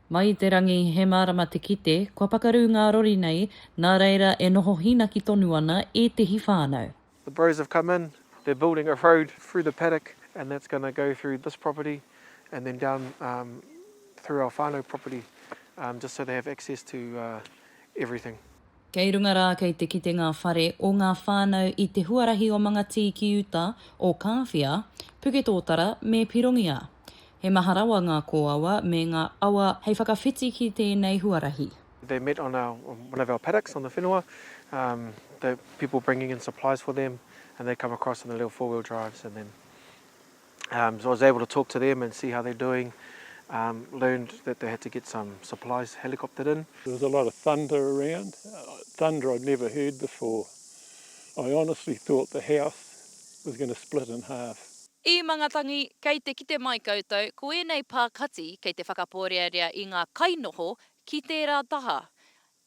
Mai i te rangi, he mārama te kite, kua pakaru ngā rori nei, nā reira e noho hīnaki tonu ana ētehi whānau. The Bros have come in, they're building a road through the paddock and that's going to go through this property and then down through our whānau property just so they have access to everything. Kei runga rā kei te kite ngā whare o ngā whānau i te huarahi o Mangatīkiuta, o Kāwhia, Puketōtara me Pirongia. He maha rawa ngā kōawa me ngā awa hei whakawhiti ki tēnei huarahi. They met on our one of our paddocks on the whenua um the people bringing in supplies for them and they come across in the little four wheel drives and then Um, so I was able to talk to them and see how they're doing. Um, learned that they had to get some supplies helicoptered in. There was a lot of thunder around, uh, thunder I'd never heard before. I honestly thought the house was going to split in half. I Mangatangi, kei te kite mai koutou, ko ēnei pā kati kei te whakaporearea i ngā kainoho ki tērā taha.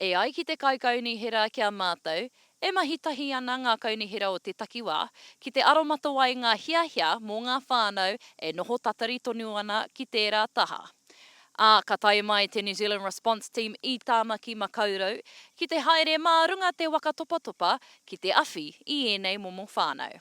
E ai ki te Kaikaunihera ki a mātou, e mahi tahi ana ngā kaunihera o te takiwā ki te aromatawai ngā hiahia mō ngā whānau e noho tatari tonu ana ki tērā taha. Ā, ka tae mai te New Zealand Response Team i Tāmaki Makaurau ki te haere mā runga te waka topatopa ki te awhi i ēnei momo whānau.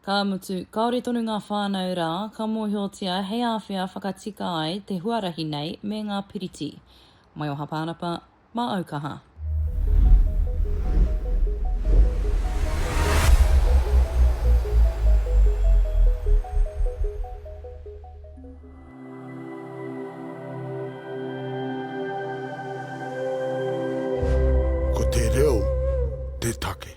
Ka mutu, kāore tonu ngā whānau rā ka mōhiotia hei āwhea whakatika ai te huarahi nei me ngā piriti. Maioha Pānapa, mā Aukaha. Ko te reo te take.